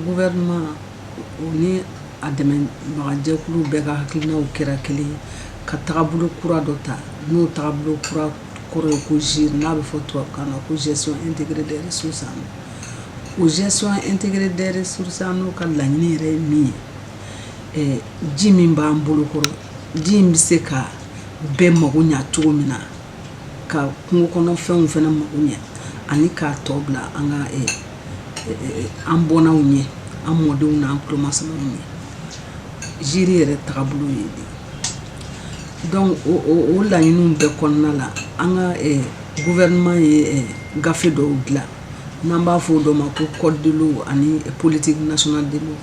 Gouvernement o ni a dɛmɛbagajɛkulu bɛɛ ka hakilinaw kɛra kelen ka tagabolo kura dɔ ta n'o tagabolo kura kɔrɔ ye ko GIR n'a bɛ fɔ tubabukan na ko gestion intégrée des ressources en eau o gestion intégrée des ressources en eau ka laɲini yɛrɛ ye min ye ji min b'an bolokɔrɔ ji in bɛ se ka bɛɛ mago ɲɛ cogo min na ka kungo kɔnɔfɛnw fana mago ɲɛ ani k'a tɔ bila an ka an bɔnnaw ɲɛ an mɔdenw n'an tulomasamaw ɲɛ GIR yɛrɛ tagabolo ye de donc o laɲiniw bɛɛ kɔnɔna la an ka gouvernement ye gafe dɔw dilan n'an b'a fɔ o dɔ ma ko code de l'eau ani politique nationale de l'eau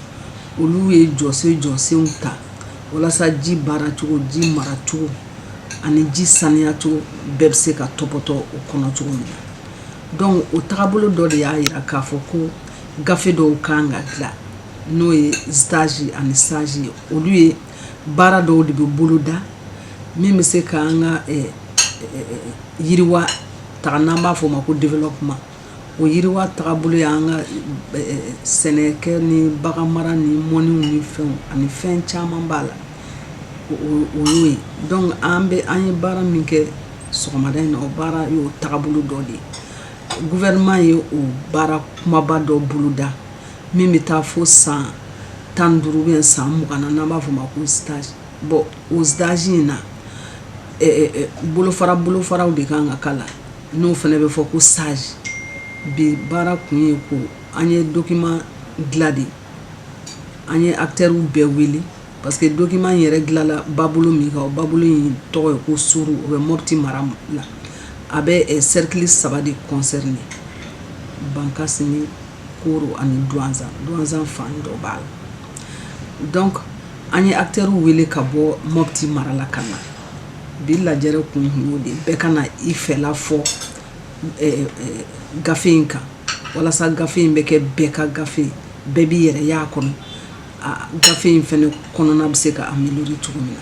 olu ye jɔse jɔsenw ta walasa ji baaracogo ji maracogo ani ji saniyacogo bɛɛ bɛ se ka tɔpɔtɔ o kɔnɔ cogo min na Donc o tagabolo dɔ de y'a jira k'a fɔ ko gafe dɔw ka kan ka dilan n'o ye SDAGE ani SAGE ye olu ye baara dɔw de bɛ boloda min bɛ se k'an ka yiriwa taga n'an b'a fɔ o ma ko développement o yiriwa tagabolo y'an ka sɛnɛkɛ ni baganmara ni mɔnniw ni fɛnw ani fɛn caman b'a la o y'o ye donc an ye baara min kɛ sɔgɔmada in na o baara ye o tagabolo dɔ de ye gouvernement ye o baara kumaba dɔ boloda min bɛ taa fo san tan ni duuru ou san mugan na n'an b'a fɔ o ma ko SDAGE bon o SDAGE in na bolofa bolofaraw de kan ka k'a la n'o fana bɛ fɔ ko SAGE bi baara kun ye ko an ye document dilan de an ye acteurs bɛɛ wele Parce que document in yɛrɛ dilanna babolo min kan, o babolo in tɔgɔ ye ko Sourou o bɛ Mopti mara la. A bɛ cercle 3 de concerner Bankas ni Koro ani Douentza, Douentza fan dɔ b'a la. Donc an ye acteurs wele ka bɔ Mopti mara la ka na. Bi lajɛrɛ kun tun y'o de ye bɛɛ ka na i fɛla fɔ ɛɛ gafe in kan walasa gafe in bɛ kɛ bɛɛ ka gafe ye, bɛɛ b'i yɛrɛ y'a kɔnɔ. gafe in fana kɔnɔna bɛ se ka améliorer cogo min na